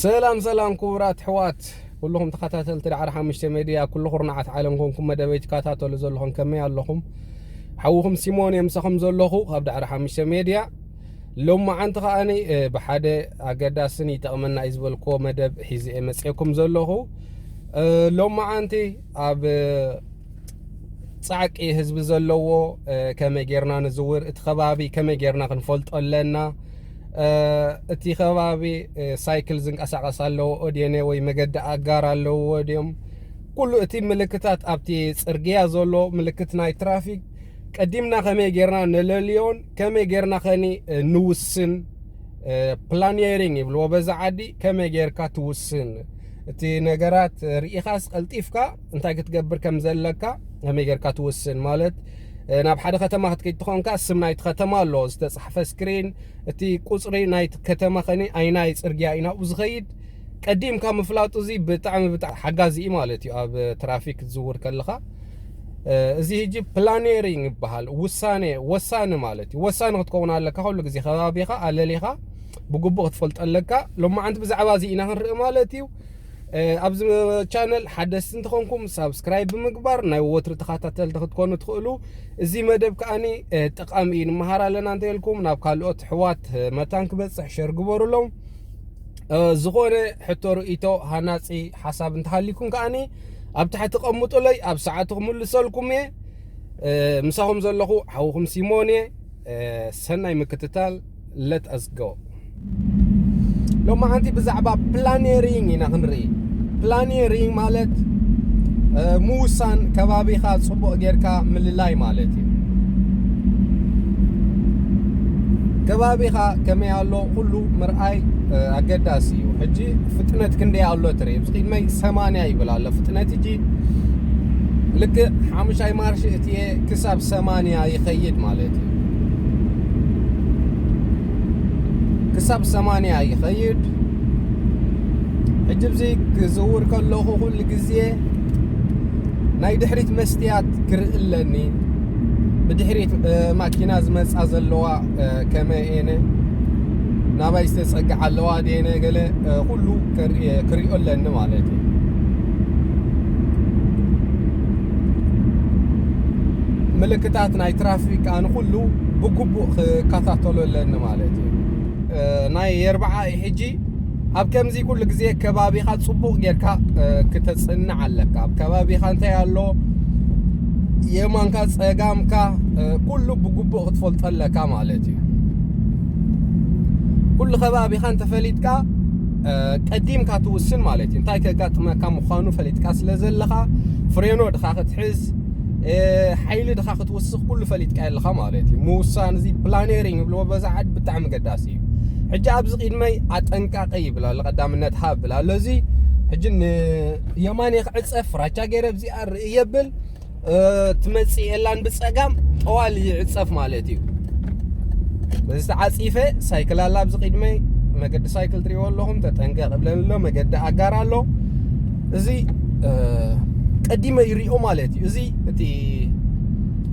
ሰላም ሰላም ክቡራት ሕዋት ኩልኹም ተኸታተልቲ ዳዕሪ ሓሙሽተ ሜድያ ኩሉ ኩርናዓት ዓለም ኮንኩም መደበይ ትከታተሉ ዘለኹም ከመይ ኣለኹም ሓውኹም ሲሞን እየ ምሳኹም ዘለኹ ካብ ዳዕሪ ሓሙሽተ ሜድያ ሎማዓንቲ ከኣ ብሓደ ኣገዳስን ይጠቕመና እዩ ዝበልክዎ መደብ ሒዘ እየ መፅኤኩም ዘለኹ ሎማዓንቲ ኣብ ፃዕቂ ህዝቢ ዘለዎ ከመይ ጌርና ንዝውር እቲ ከባቢ ከመይ ጌርና ክንፈልጦ ኣለና እቲ ከባቢ ሳይክል ዝንቀሳቀስ ኣለዎ ኦዴነ ወይ መገዲ ኣጋር ኣለዎ ድዮም ኩሉ እቲ ምልክታት ኣብቲ ፅርግያ ዘሎ ምልክት ናይ ትራፊክ ቀዲምና ከመይ ጌርና ነለልዮን ከመይ ጌርና ከኒ ንውስን ፕላኒሪንግ ይብልዎ በዛ ዓዲ ከመይ ጌርካ ትውስን እቲ ነገራት ርኢኻስ ቀልጢፍካ እንታይ ክትገብር ከም ዘለካ ከመይ ጌርካ ትውስን ማለት ናብ ሓደ ከተማ ክትከይድ ትኾንካ ስም ናይቲ ከተማ ኣሎ ዝተፃሕፈ ስክሪን እቲ ቁፅሪ ናይቲ ከተማ ከኒ ኣይናይ ፅርግያ እዩ ናብኡ ዝኸይድ ቀዲምካ ምፍላጡ እዚ ብጣዕሚ ብጣዕሚ ሓጋዚ እዩ ማለት እዩ ኣብ ትራፊክ ክትዝውር ከለኻ እዚ ህጂ ፕላኔሪንግ ይበሃል ውሳነ ወሳኒ ማለት እዩ ወሳኒ ክትከውን ኣለካ ኩሉ ግዜ ከባቢኻ ኣለሊኻ ብግቡእ ክትፈልጦ ኣለካ ሎማዓንቲ ብዛዕባ እዚ ኢና ክንርኢ ማለት እዩ ኣብዚ ቻነል ሓደስቲ እንትኾንኩም ሳብስክራይብ ብምግባር ናይ ወትሪ ተኸታተልቲ ክትኮኑ ትኽእሉ እዚ መደብ ከዓኒ ጠቃሚ እዩ ንመሃር ኣለና እንተልኩም ናብ ካልኦት ሕዋት መታን ክበፅሕ ሸር ግበሩሎም ዝኾነ ሕቶ ርእይቶ ሃናጺ ሓሳብ እንተሃሊኩም ከኣኒ ኣብ ታሕቲ ቀምጡለይ ኣብ ሰዓቱ ክምልሰልኩም እየ ምሳኹም ዘለኹ ሓውኹም ሲሞን እየ ሰናይ ምክትታል ለት ኣስጎ ሎማዓንቲ ብዛዕባ ፕላኔሪንግ ኢና ክንርኢ ፕላኔሪንግ ማለት ምውሳን ከባቢኻ ጽቡቕ ጌርካ ምልላይ ማለት እዩ። ከባቢኻ ከመይ ኣሎ ኩሉ ምርኣይ ኣገዳሲ እዩ። ሕጂ ፍጥነት ክንደይ ኣሎ ትርኢ ብዚ ቅድመይ ሰማንያ ይብል ኣሎ ፍጥነት እቲ ልክዕ ሓሙሻይ ማርሽ እቲ ክሳብ ሰማንያ ይኸይድ ማለት እዩ። ክሳብ ሰማንያ ይኸይድ ሕጂ ብዚ ክዝውር ከለኹ ኩሉ ግዜ ናይ ድሕሪት መስትያት ክርኢ ኣለኒ ብድሕሪት ማኪና ዝመፃ ዘለዋ ከመይ እየነ ናባይ ዝተፀግዓ ኣለዋ ድየነ ገለ ኩሉ ክሪኦ ኣለኒ ማለት እዩ ምልክታት ናይ ትራፊክ ኣነ ኩሉ ብግቡእ ክከታተሎ ኣለኒ ማለት እዩ ናይ የርብዓ እዩ ሕጂ ኣብ ከምዚ ኩሉ ግዜ ከባቢኻ ጽቡቕ ጌርካ ክተጽንዕ ኣለካ ኣብ ከባቢኻ እንታይ ኣሎ የማንካ ጸጋምካ ኩሉ ብግቡእ ክትፈልጦ ኣለካ ማለት እዩ ኩሉ ከባቢኻ እንተፈሊጥካ ቀዲምካ ትውስን ማለት እዩ እንታይ ከጋጥመካ ምዃኑ ፈሊጥካ ስለ ዘለኻ ፍሬኖ ድኻ ክትሕዝ ሓይሊ ድኻ ውስኽ ኩሉ ፈሊጥካ ኣለኻ ማለት እዩ ምውሳን እዚ ፕላኔሪንግ ይብልዎ በዛ ዓድ ብጣዕሚ ገዳሲ እዩ ሕጂ ኣብዚ ቅድመይ ኣጠንቃቂ ይብል ኣሎ ቀዳምነት ሃብ ይብል ኣሎ እዚ ሕጂ ንየማን የክዕፀ ፍራቻ ገይረ እዚኣ ርኢ የብል ትመፅእ የላን ብፀጋም ጠዋል ይዕፀፍ ማለት እዩ በዚ ተዓፂፈ ሳይክል ኣላ ኣብዚ ቅድመይ መገዲ ሳይክል ትሪእዎ ኣለኹም ተጠንቀቕ ብለን ኣሎ መገዲ ኣጋር ኣሎ እዚ ቀዲመ ይሪኦ ማለት እዩ እዚ እቲ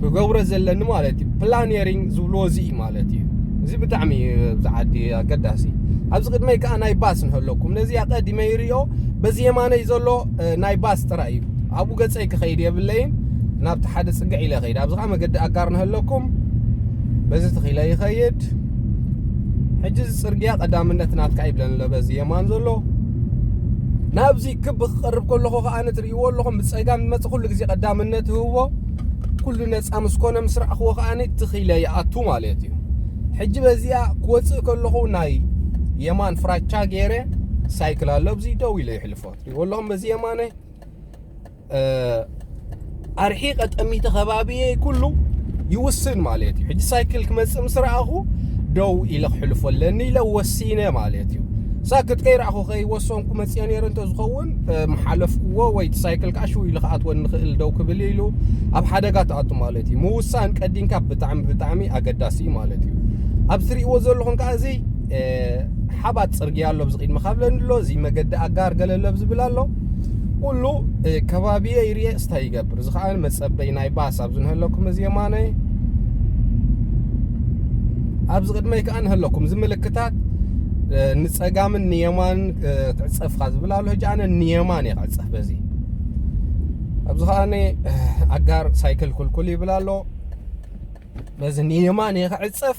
ክገብሮ ዘለኒ ማለት እዩ ፕላኔሪንግ ዝብልዎ እዚ እዩ ማለት እዩ እዚ ብጣዕሚ እዩ ኣብዚ ዓዲ ኣገዳሲ ኣብዚ ቅድመይ ከዓ ናይ ባስ ንህለኩም ነዚ ቀዲመ ይሪኦ በዚ የማነይ ዘሎ ናይ ባስ ጥራይ እዩ ኣብኡ ገፀይ ክኸይድ የብለይን ናብቲ ሓደ ፅግዕ ኢለ ኸይድ ኣብዚ ከዓ መገዲ ኣጋር ንህለኩም በዚ ተኺለ ይኸይድ ሕጂ እዚ ፅርግያ ቀዳምነት ናትካ ይብለኒ ኣሎ በዚ የማን ዘሎ ናብዚ ክብ ክቐርብ ከለኹ ከኣ ትርእይዎ ኣለኹም ብጸጋም ዝመጽእ ኩሉ ግዜ ቀዳምነት ህቦ ኩሉ ነጻ ምስ ኮነ ምስ ረኣኽዎ ከኣ ትኺለ ይኣቱ ማለት እዩ ሕጂ በዚኣ ክወጽእ ከለኹ ናይ የማን ፍራቻ ገይረ ሳይክል ኣሎ ኣብዚ ደው ኢለ ይሕልፎ ትርእይዎ ኣለኹም በዚ የማነ ኣርሒቐ ጠሚተ ከባቢየ ኩሉ ይውስን ማለት እዩ ሕጂ ሳይክል ክመፅእ ምስ ረኣኹ ደው ኢለ ክሕልፎ ኣለኒ ኢለ ወሲነ ማለት እዩ ሳክት ከይረኣኹ ከይወሰንኩ መፅኦ ነይረ እንተዝኸውን ምሓለፍኩዎ ወይ እቲ ሳይክል ከዓ ሽው ኢሉ ክኣትወኒ ንኽእል ደው ክብል ኢሉ ኣብ ሓደጋ ትኣቱ ማለት እዩ ምውሳን ቀዲምካ ብጣዕሚ ብጣዕሚ ኣገዳሲ እዩ ማለት እዩ ኣብ ትሪእዎ ዘለኹም ከዓ እዚ ሓባት ፅርግያ ኣሎ ብዚ ቅድሚ ካብለኒ ኣሎ እዚ መገዲ ኣጋር ገለለብ ዝብል ኣሎ ኩሉ ከባቢየ ይርኤ ስታይ ይገብር እዚ ከዓኒ መጸበይ ናይ ባስ ኣብዚ ንህለኩም እዚ የማነ ኣብዚ ቅድመይ ከዓ ንህለኩም እዚ ምልክታት ንጸጋምን ንየማን ትዕጸፍካ ዝብል ኣሎ ሕጂ ኣነ ንየማን እየ ክዕጸፍ በዚ ኣብዚ ከዓኒ ኣጋር ሳይክል ኩልኩል ይብል ኣሎ በዚ ንየማን እየ ክዕጸፍ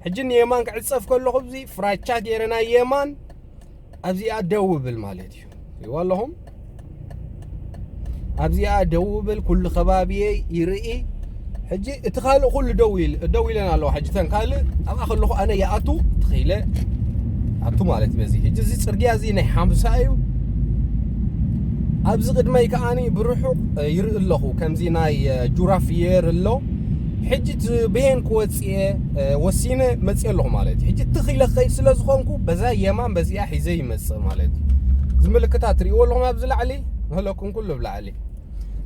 ሕጂ ንየማን ክዕጸፍ ከለኹ እዚ ፍራቻ ገይረ ናይ የማን ኣብዚኣ ደው ብል ማለት እዩ ሪዋ ኣለኹም ኣብዚኣ ደው ብል ኩሉ ከባቢየይ ይርኢ ሕጂ እቲ ካልእ ኩሉ ደው ኢል ደው ኢለን ኣለዋ ሕጂ ተን ካልእ ኣብኣ ከለኹ ኣነ ይኣቱ ትኽኢለ ኣቱ ማለት እዩ በዚ ሕጂ እዚ ፅርግያ እዚ ናይ ሓምሳ እዩ ኣብዚ ቅድመይ ከዓኒ ብርሑቕ ይርኢ ኣለኹ ከምዚ ናይ ጁራ ፍየር ኣሎ ሕጂ እቲ ብሄን ክወፅ መርጽየ ወሲነ መጽየ ኣለኹ ማለት እዩ። ሕጂ ትኽ ኢለ ክኸይድ ስለ ዝኾንኩ በዛ የማን በዚኣ ሒዘ ይመጽእ ማለት እዩ። እዚ ምልክታ ትርእይዎ ኣለኹም ኣብዚ ላዕሊ ንህለኩም ኩሉ ኣብ ላዕሊ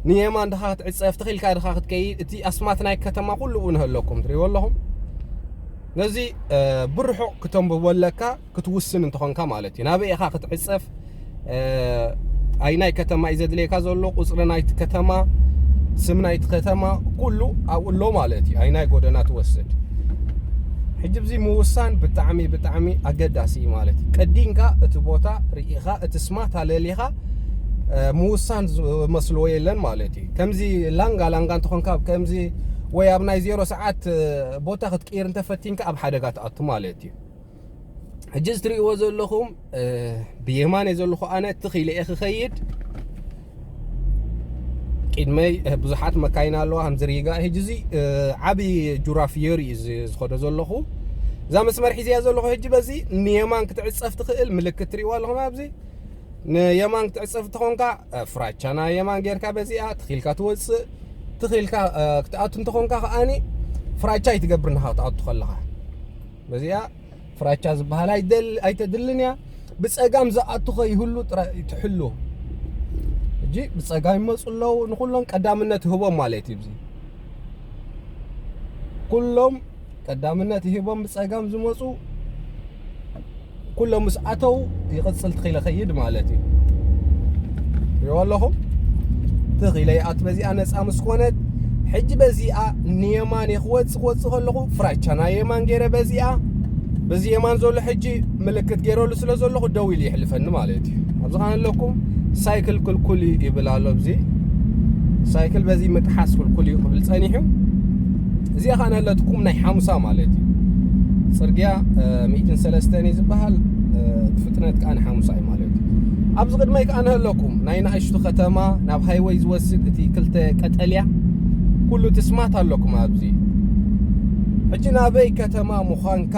ንየማን ድኻ ክትዕጸፍ ትኽ ኢልካ ድኻ ክትከይድ እቲ ኣስማት ናይ ከተማ ኩሉ ንህለኩም ትርእይዎ ኣለኹም ነዚ ብርሑቕ ክተንብቦ ኣለካ ክትውስን እንተኾንካ ማለት እዩ። ናበይ ኢኻ ክትዕጸፍ፣ ኣይናይ ከተማ እዩ ዘድልየካ ዘሎ፣ ቁጽሪ ናይቲ ከተማ፣ ስም ናይቲ ከተማ ኩሉ ኣብኡ ኣሎ ማለት እዩ። ኣይናይ ጎደና ትወስድ ሕጂ ብዚ ምውሳን ብጣዕሚ ብጣዕሚ ኣገዳሲ እዩ ማለት እዩ ቀዲንካ እቲ ቦታ ርኢኻ እቲ ስማት ኣለሊኻ ምውሳን ዝመስልዎ የለን ማለት እዩ ከምዚ ላንጋ ላንጋ እንትኾንካ ከምዚ ወይ ኣብ ናይ ዜሮ ሰዓት ቦታ ክትቅይር እንተፈቲንካ ኣብ ሓደጋ ትኣቱ ማለት እዩ ሕጂ እዚ ትርእይዎ ዘለኹም ብየማነ ዘለኹ ኣነ ትኽ ኢለ እየ ክኸይድ ቅድመይ ብዙሓት መካይን ኣለዋ ከምዚ ሪጋ ሕጂ እዚ ዓብዪ ጁራ ፍዮሪ እዩ ዝኸዶ ዘለኹ እዛ መስመር ሒዝያ ዘለኹ ሕጂ በዚ ንየማን ክትዕፀፍ ትኽእል ምልክት ትርእይዎ ኣለኹም ኣብዚ ንየማን ክትዕፀፍ እንተኾንካ ፍራቻና የማን ጌርካ በዚኣ ትኽኢልካ ትወፅእ ትኽኢልካ ክትኣቱ እንተኾንካ ከዓኒ ፍራቻ ኣይትገብር ናኻ ክትኣቱ ከለኻ በዚኣ ፍራቻ ዝበሃል ኣይተድልን እያ ብፀጋም ዝኣቱ ከይህሉ ጥራይ ትሕሉ እጂ ብፀጋም ይመፁ ኣለዉ ንኩሎም ቀዳምነት ይህቦም ማለት እዩ እዚ ኩሎም ቀዳምነት ይህቦም ብፀጋም ዝመፁ ኩሎም ምስ ኣተው ይቕጽል ትኺለ ኸይድ ማለት እዩ ሪኦ ኣለኹም ትኺለ ይኣት በዚኣ ነፃ ምስ ኮነት ሕጂ በዚኣ ንየማን ክወፅ ክወፅ ከለኹ ፍራቻ ናይ የማን ገይረ በዚኣ በዚ የማን ዘሎ ሕጂ ምልክት ገይረሉ ስለ ዘለኹ ደው ኢሉ ይሕልፈኒ ማለት እዩ ኣብዚ ኸነ ኣለኩም ሳይክል ክልኩል እዩ ይብል ኣሎ ብዚ ሳይክል በዚ ምጥሓስ ክልኩል እዩ ክብል ጸኒሑ እዚኣ ከኣ ናለት ኩም ናይ ሓሙሳ ማለት እዩ ጽርግያ ሚእትን ሰለስተን እዩ ዝበሃል ፍጥነት ከኣ ንሓሙሳ እዩ ማለት እዩ ኣብዚ ቅድመይ ከኣ ንህለኩም ናይ ንኣሽቱ ከተማ ናብ ሃይወይ ዝወስድ እቲ ክልተ ቀጠልያ ኩሉ እቲ ስማት ኣለኩም ኣብዚ ሕጂ ናበይ ከተማ ምዃንካ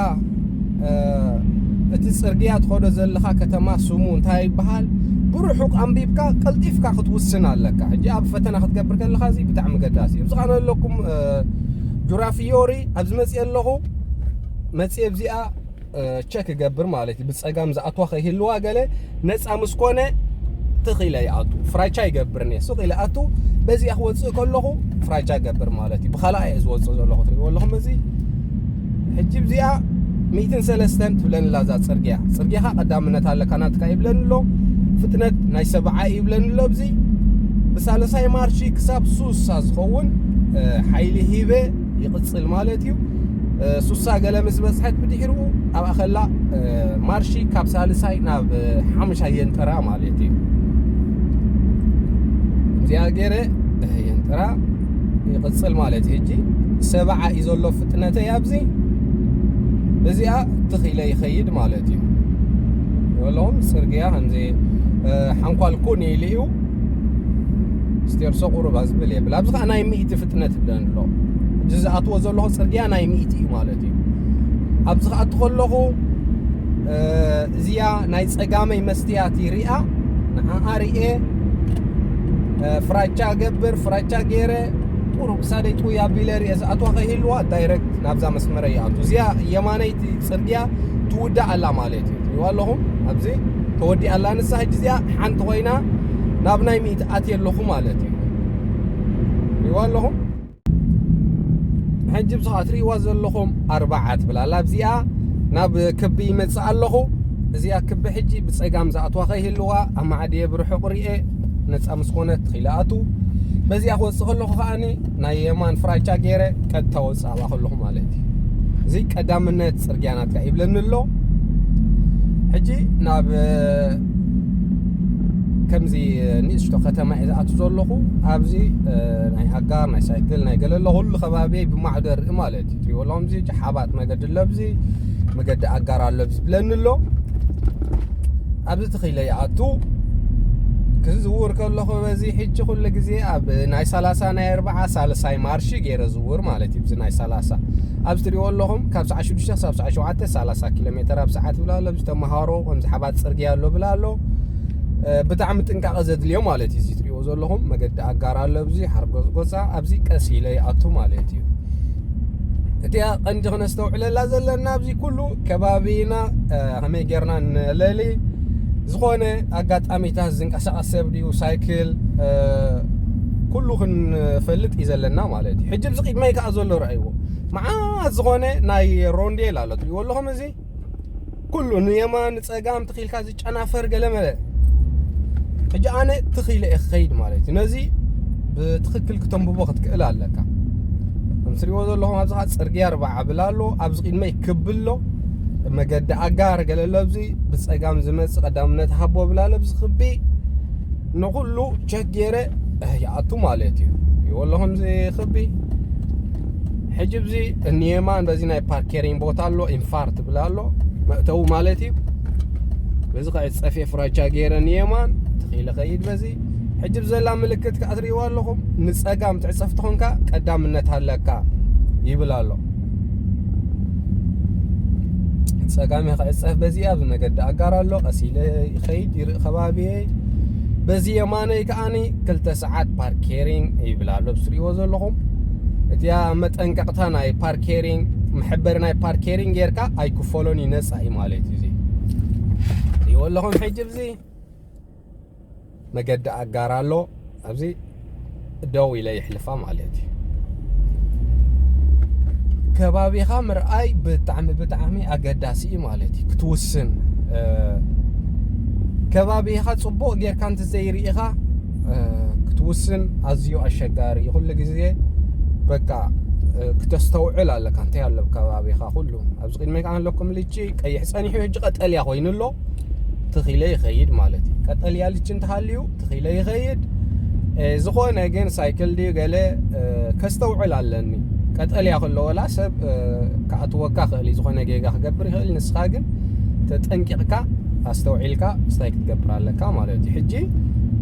እቲ ጽርግያ ትኸዶ ዘለኻ ከተማ ስሙ እንታይ ይበሃል ብርሑቕ ኣንቢብካ ቀልጢፍካ ክትውስን ኣለካ ሕጂ ኣብ ፈተና ክትገብር ከለኻ እዚ ብጣዕሚ ገዳሲ እዩ እዚ ከኣ ኣለኩም ጁራ ፍዮሪ ኣብ ዝመፅእ ኣለኹ መፅእ ኣብዚኣ ቸክ ይገብር ማለት እዩ ብፀጋም ዝኣትዋ ከይህልዋ ገለ ነፃ ምስ ኮነ ትኽ ኢለ ይኣቱ ፍራቻ ይገብርኒ እየ ሱቕ ኢለ ኣቱ በዚኣ ክወፅእ ከለኹ ፍራቻ ይገብር ማለት እዩ ብካልኣ እየ ዝወፅእ ዘለኹ ትሪእዎ ኣለኹም እዚ ሕጂ ብዚኣ ሚእትን ሰለስተን ትብለኒ ኣላ እዛ ጽርግያ ጽርግያኻ ቀዳምነት ኣለካ ናትካ ይብለኒ ኣሎ ፍጥነት ናይ ሰብዓ ይብለኒ ኣሎ ኣብዚ ብሳለሳይ ማርሺ ክሳብ ሱሳ ዝኸውን ሓይሊ ሂበ ይቕጽል ማለት እዩ ሱሳ ገለ ምስ በጽሐት ብድሕሩ ኣብ ኣኸላ ማርሺ ካብ ሳልሳይ ናብ ሓሙሻይ የንጥራ ማለት እዩ እዚኣ ገይረ የንጥራ ይቕጽል ማለት እዩ ሕጂ ሰብዓ እዩ ዘሎ ፍጥነተይ ኣብዚ በዚኣ ትኽ ኢለ ይኸይድ ማለት እዩ በሎም ጽርግያ ከምዚ ሓንኳል ኩን ኢሉ እዩ ስቴርሶ ቁሩብ ኣዝብል የብል ኣብዚ ከዓ ናይ ሚእቲ ፍጥነት ይብለን ኣሎ እዚ ዝኣትዎ ዘለኹ ጽርግያ ናይ ሚእቲ እዩ ማለት እዩ ኣብዚ ከኣቲ ከለኹ እዚኣ ናይ ጸጋመይ መስትያት እዩ ሪኣ ንዓኣ ርኤ ፍራቻ ገብር ፍራቻ ገይረ ቁሩብ ክሳደይ ጥውይ ኣቢለ ርኤ ዝኣትዋ ከይህልዋ ዳይረክት ናብዛ መስመረ ይኣቱ እዚኣ የማነይቲ ጽርግያ ትውዳእ ኣላ ማለት እዩ ትሪእዋ ኣለኹም ኣብዚ ተወዲኣ ኣላ ንሳ ሕጂ እዚኣ ሓንቲ ኮይና ናብ ናይ ሚእቲ ኣትየ ኣለኹ ማለት እዩ ትሪእዋ ኣለኹም ሕጂ ብስኻ ትርእይዋ ዘለኹም ኣርባዓ ትብል ኣላ ኣብዚኣ ናብ ክቢ ይመጽእ ኣለኹ እዚኣ ክቢ ሕጂ ብጸጋም ዝኣትዋ ከይህልዋ ኣማዕድየ ብርሑቕ ርኤ ነፃ ምስ ኮነት ኺኢለ ኣቱ በዚኣ ክወፅእ ከለኹ ከዓኒ ናይ የማን ፍራቻ ገይረ ቀጥታ ወፅእ ኣባ ከለኹ ማለት እዩ እዚ ቀዳምነት ፅርግያ ናትካ ይብለኒ ኣሎ ሕጂ ናብ ከምዚ ንእሽቶ ከተማ እየ ዝኣቱ ዘለኹ ኣብዚ ናይ ኣጋር ናይ ሳይክል ናይ ገለ ኣሎ ኩሉ ከባቢ ብማዕዶ ርኢ ማለት እዩ ትሪእዎ ኣለኹም እዚ ሓባት መገዲ ኣሎ ኣብዚ መገዲ ኣጋር ኣሎ ኣብዚ ብለኒ ኣሎ ኣብዚ ተኺለ ይኣቱ ክዝውር ከለኹ በዚ ሕጂ ኩሉ ግዜ ኣብ ናይ ሰላሳ ናይ ኣርባዓ ሳልሳይ ማርሺ ገይረ ዝውር ማለት እዩ ብዚ ናይ ሰላሳ ኣብዚ ትሪእዎ ኣለኹም ካብ ሰዓት ሽዱሽተ ክሳብ ሰዓት ሸውዓተ ሰላሳ ኪሎ ሜተር ኣብ ሰዓት ይብል ኣሎ ኣብዚ ተምሃሮ ከምዚ ሓባት ፅርግያ ኣሎ ብል ኣሎ ብጣዕሚ ጥንቃቐ ዘድልዮ ማለት እዩ እዚ ትሪእዎ ዘለኹም መገዲ ኣጋር ኣሎ ኣብዚ ሓርጎፅጎፃ ኣብዚ ቀስ ኢለ ይኣቱ ማለት እዩ እቲኣ ቀንዲ ክነስተውዕለላ ዘለና ኣብዚ ኩሉ ከባቢና ከመይ ጌርና ንለሊ ዝኾነ ኣጋጣሚታት ዝንቀሳቐስ ሰብ ድዩ ሳይክል ኩሉ ክንፈልጥ እዩ ዘለና ማለት እዩ ሕጂ ብዚ ቅድመይ ከዓ ዘሎ ረኣዩ ኣለዎ መዓት ዝኾነ ናይ ሮንዴል ኣሎ ትሪእዎ ኣለኹም እዚ ኩሉ ንየማን ንፀጋም ትኺኢልካ ዝጨናፈር ገለመለ ሕጂ ኣነ ትኺኢለ እየ ክኸይድ ማለት እዩ ነዚ ብትኽክል ክተንብቦ ክትክእል ኣለካ ከም ትሪእዎ ዘለኹም ኣብዚ ከዓ ፅርግያ ርባዕ ዓብል ኣሎ ኣብዚ ቅድመይ ክብ ኣሎ መገዲ ኣጋር ገለ ኣሎ ኣብዚ ብፀጋም ዝመፅእ ቀዳምነት ሃቦ ብላ ኣሎ ኣብዚ ክቢ ንኩሉ ጌረ ይኣቱ ማለት እዩ ይወሎ ከምዚ ክቢ ሕጂ ብዚ እንየማን በዚ ናይ ፓርኬሪን ቦታ ኣሎ ኢንፋር ትብል ኣሎ መእተዊ ማለት እዩ በዚ ከዓ ፀፌ ፍራቻ ጌረ ንየማን ትኺኢለ ከይድ በዚ ሕጂ ብዘላ ምልክት ከዓ ትሪእዋ ኣለኹም ንፀጋም ትዕፀፍ ትኾንካ ቀዳምነት ኣለካ ይብል ኣሎ ፀጋሚ ክዕፀፍ በዚኣ ብመገዲ ኣጋር ኣሎ ቀሲለ ይኸይድ ይርኢ ከባቢየ በዚ የማነይ ከዓኒ ክልተ ሰዓት ፓርኬሪንግ ይብል ኣሎ ብስሪዎ ዘለኹም እቲያ መጠንቀቕታ ናይ ፓርኬሪንግ መሐበሪ ናይ ፓርኬሪንግ ጌርካ ኣይክፈሎን እዩ ነፃ እዩ ማለት እዩ እዚ ይወለኹም ሕጂ ብዚ መገዲ ኣጋር ኣሎ ኣብዚ ደው ኢለ ይሕልፋ ማለት እዩ ከባቢኻ ምርኣይ ብጣዕሚ ብጣዕሚ ኣገዳሲ እዩ ማለት እዩ ክትውስን ከባቢኻ ፅቡቕ ጌርካ እንተዘይርኢኻ ክትውስን ኣዝዩ ኣሸጋሪ እዩ ኩሉ ግዜ በቃ ክተስተውዕል ኣለካ እንታይ ኣሎ ከባቢኻ ኩሉ ኣብዚ ቅድሚካ ኣለኩም ልቺ ቀይሕ ፀኒሑ ሕጂ ቀጠልያ ኮይኑ ኣሎ ትኺለ ይኸይድ ማለት እዩ ቀጠልያ ልች እንተሃልዩ ትኺለ ይኸይድ ዝኾነ ግን ሳይክል ድዩ ገለ ከስተውዕል ኣለኒ ቀጠልያ ከለወላ ሰብ ክኣትወካ ክእል እዩ ዝኾነ ጌጋ ክገብር ይኽእል ንስኻ ግን ተጠንቂቕካ ኣስተውዒልካ ስታይ ክትገብር ኣለካ ማለት እዩ ሕጂ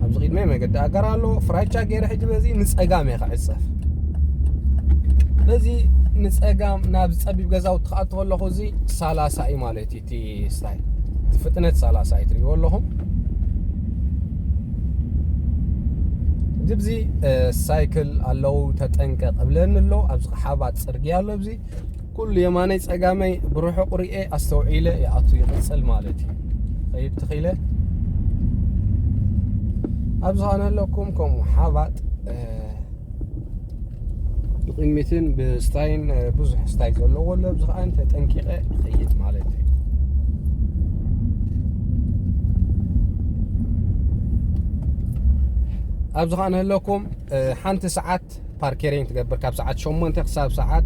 ኣብዚ ቅድመ መገዲ ኣጋር ኣሎ ፍራቻ ገይረ ሕጂ በዚ ንፀጋም እየ ክዕፀፍ በዚ ንፀጋም ናብ ፀቢብ ገዛውቲ ክኣቱ ከለኹ እዚ ሳላሳ እዩ ማለት እዩ እቲ ስታይ እቲ ፍጥነት ሳላሳ እዩ ትሪእዎ ኣለኹም ግብዚ ሳይክል ኣለው ተጠንቀቕ እብለኒ ኣሎ ኣብዚ ሓባት ፅርግያ ኣሎ እዚ ኩሉ የማነይ ፀጋመይ ብርሑቕ ርኤ ኣስተውዒለ ይኣቱ ይቕፅል ማለት እዩ ኸይድ ትኽኢለ ኣብ ዝኾነ ኣለኩም ከምኡ ሓባጥ ብቕድሚትን ብስታይን ብዙሕ ስታይ ዘለዎ ኣሎ ኣብዚ ከዓ ተጠንቂቐ ይኸይድ ማለት እዩ ኣብዚ ከዓ ንህለኩም ሓንቲ ሰዓት ፓርኬሪን ትገብር ካብ ሰዓት ሸሞንተ ክሳብ ሰዓት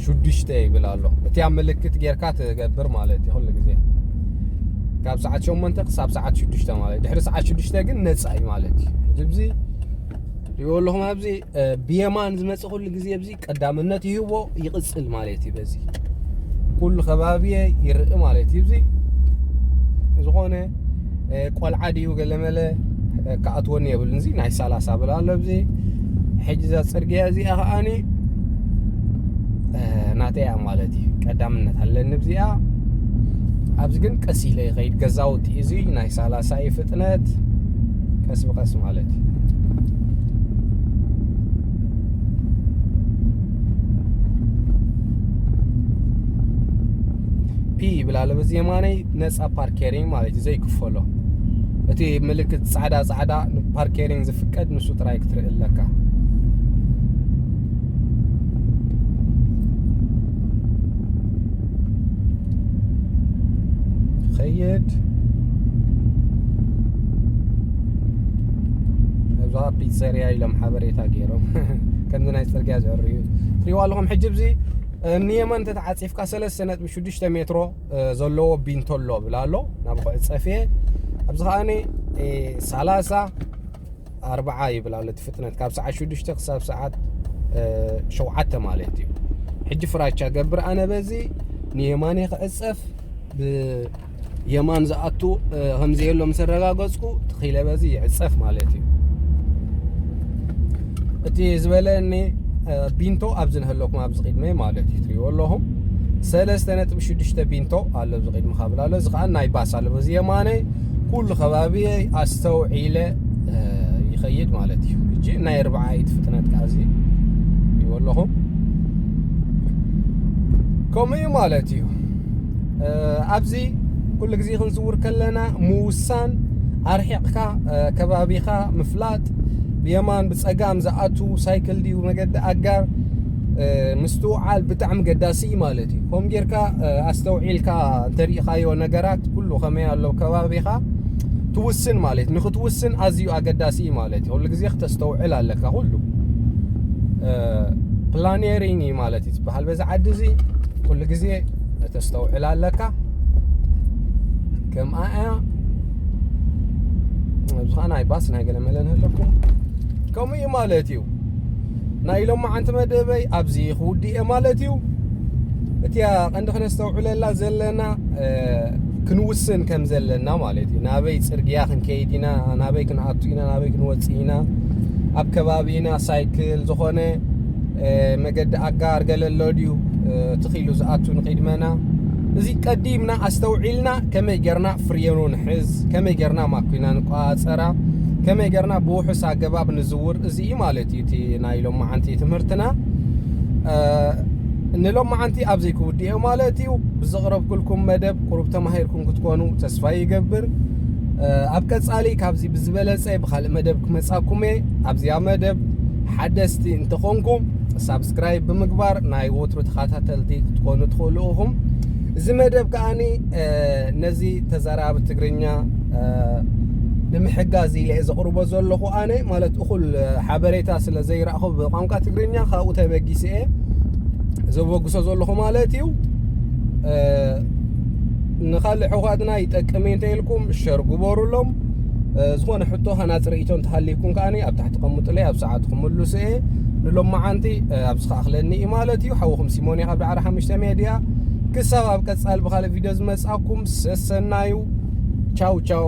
ሽዱሽተ ይብል ኣሎ እቲ ኣብ ምልክት ጌርካ ትገብር ማለት እዩ ኩሉ ግዜ ካብ ሰዓት ሸሞንተ ክሳብ ሰዓት ሽዱሽተ ማለት ድሕሪ ሰዓት ሽዱሽተ ግን ነፃ እዩ ማለት እዩ እዚ ትሪእዎ ኣለኹም ኣብዚ ብየማን ዝመፅእ ኩሉ ግዜ ኣብዚ ቀዳምነት ይህቦ ይቕፅል ማለት እዩ በዚ ኩሉ ከባቢየ ይርኢ ማለት እዩ እዚ ዝኾነ ቆልዓ ድዩ ገለመለ ክኣትወኒ የብልን እዚ ናይ ሰላሳ ብላ ኣሎ ኣብዚ ሕጂ እዛ ፅርግያ እዚኣ ከዓኒ ናተይ እያ ማለት እዩ ቀዳምነት ኣለኒ እዚኣ ኣብዚ ግን ቀስ ኢለ ይኸይድ ገዛውቲ እዚ ናይ ሰላሳ ይፍት ፍጥነት ቀስ ብቀስ ማለት እዩ ፒ ይብላለ በዚ የማነይ ነፃ ፓርኬሪንግ ማለት እዩ ዘይክፈሎ እቲ ምልክት ፃዕዳ ፃዕዳ ፓርኬሪንግ ዝፍቀድ ንሱ ጥራይ ክትርኢ ኣለካ ይኸይድ እዛ ፒዘርያ ኢሎም ሓበሬታ ገይሮም ከምዚ ናይ ፅርግያ ዝዕርዩ ትሪዋ ኣለኹም ሕጂ ብዚ ንየማን ተተዓፂፍካ ሰለስተ ነጥቢ ሽዱሽተ ሜትሮ ዘለዎ ቢንቶ ኣሎ ብላ ኣሎ ናብ ኩዕፀፍየ ኣብዚ ከዓኒ ሰላሳ ኣርብዓ ይብል ኣሎ እቲ ፍጥነት ካብ ሰዓት ሽዱሽተ ክሳብ ሰዓት ሸውዓተ ማለት እዩ ሕጂ ፍራቻ ገብር ኣነ በዚ ንየማን ክዕፀፍ ብየማን ዝኣቱ ከምዘየሎ ምስ ኣረጋገፅኩ ትኺለ በዚ ይዕፀፍ ማለት እዩ እቲ ዝበለኒ ቢንቶ ኣብዚ ንህለኩም ኣብዚ ቅድመይ ማለት እዩ ትሪእዎ ኣለኹም ሰለስተ ነጥቢ ሽዱሽተ ቢንቶ ኣሎ ኣብዚ ቅድሚ ካብላ ኣሎ እዚ ከዓ ናይ ባስ ኣሎ በዚ የማነይ ኩሉ ከባቢየይ ኣስተውዒለ ይኸይድ ማለት እዩ እጂ ናይ ኣርባዓይት ፍጥነት ከዓዚ ይዎ ኣለኹ ከምኡ እዩ ማለት እዩ ኣብዚ ኩሉ ግዜ ክንዝውር ከለና ምውሳን ኣርሒቕካ ከባቢኻ ምፍላጥ ብየማን ብፀጋም ዝኣቱ ሳይክል ድዩ መገዲ ኣጋር ምስትውዓል ብጣዕሚ ገዳሲ እዩ ማለት እዩ ከምኡ ጌርካ ኣስተውዒልካ እንተሪኢኻዮ ነገራት ኩሉ ከመይ ኣሎ ከባቢኻ ትውስን ማለት ንክትውስን ኣዝዩ ኣገዳሲ እዩ ማለት እዩ ኩሉ ግዜ ክተስተውዕል ኣለካ ኩሉ ፕላኔሪንግ እዩ ማለት እዩ ዝበሃል በዚ ዓዲ እዚ ኩሉ ግዜ ከተስተውዕል ኣለካ ከምኣ እያ ኣብዚ ከዓ ናይ ባስ ናይ ገለ መለ ንህለኩም ከምኡ እዩ ማለት እዩ ናይ ሎማዓንቲ መደበይ ኣብዚ ክውድእ እየ ማለት እዩ እቲያ ቀንዲ ክነስተውዕለላ ዘለና ክንውስን ከም ዘለና ማለት እዩ ናበይ ፅርግያ ክንከይድ ኢና ናበይ ክንኣቱ ኢና ናበይ ክንወፅእ ኢና ኣብ ከባቢና ሳይክል ዝኾነ መገዲ ኣጋር ገለሎ ድዩ ትኺሉ ዝኣቱ ንቅድመና እዚ ቀዲምና ኣስተውዒልና ከመይ ጌርና ፍርየኑ ንሕዝ ከመይ ጌርና ማኩና ንቋፀራ ከመይ ጌርና ብውሑስ ኣገባብ ንዝ ክቡር እዚ እዩ ማለት እዩ እቲ ናይ ሎማዓንቲ ትምህርትና ንሎማዓንቲ ኣብ ዘይክውድኦ ማለት እዩ ብዘቕረብኩልኩም መደብ ቁሩብ ተማሂርኩም ክትኮኑ ተስፋ ይገብር ኣብ ቀጻሊ ካብዚ ብዝበለጸ ብካልእ መደብ ክመጻኩም እየ ኣብዚኣ መደብ ሓደስቲ እንተኾንኩም ሳብስክራይብ ብምግባር ናይ ወትሩ ተኸታተልቲ ክትኮኑ ትኽእሉ ኢኹም እዚ መደብ ከዓኒ ነዚ ተዛራቢ ትግርኛ ንምሕጋዝ ኢለ ዘቕርቦ ዘለኹ ኣነ ማለት እኹል ሓበሬታ ስለ ዘይረእኹ ብቋንቋ ትግርኛ ካብኡ ተበጊሰ እየ ዘበግሶ ዘለኹ ማለት እዩ ንካልእ ሕኳትና ይጠቅም እንተ ኢልኩም ሸር ግበሩሎም ዝኾነ ሕቶ ሃናፅ ርእቶ እንተሃልይኩም ከዓኒ ኣብ ታሕቲ ቀምጡለይ ኣብ ሰዓት ክምልሱ እየ ንሎማዓንቲ ኣብዚ ከኣኽለኒ እዩ ማለት እዩ ሓውኹም ሲሞን ካብ ዳዕራ ሓሙሽተ ሜድያ ክሳብ ኣብ ቀጻሊ ብኻልእ ቪድዮ ዝመጻኩም ሰሰናዩ ቻው ቻው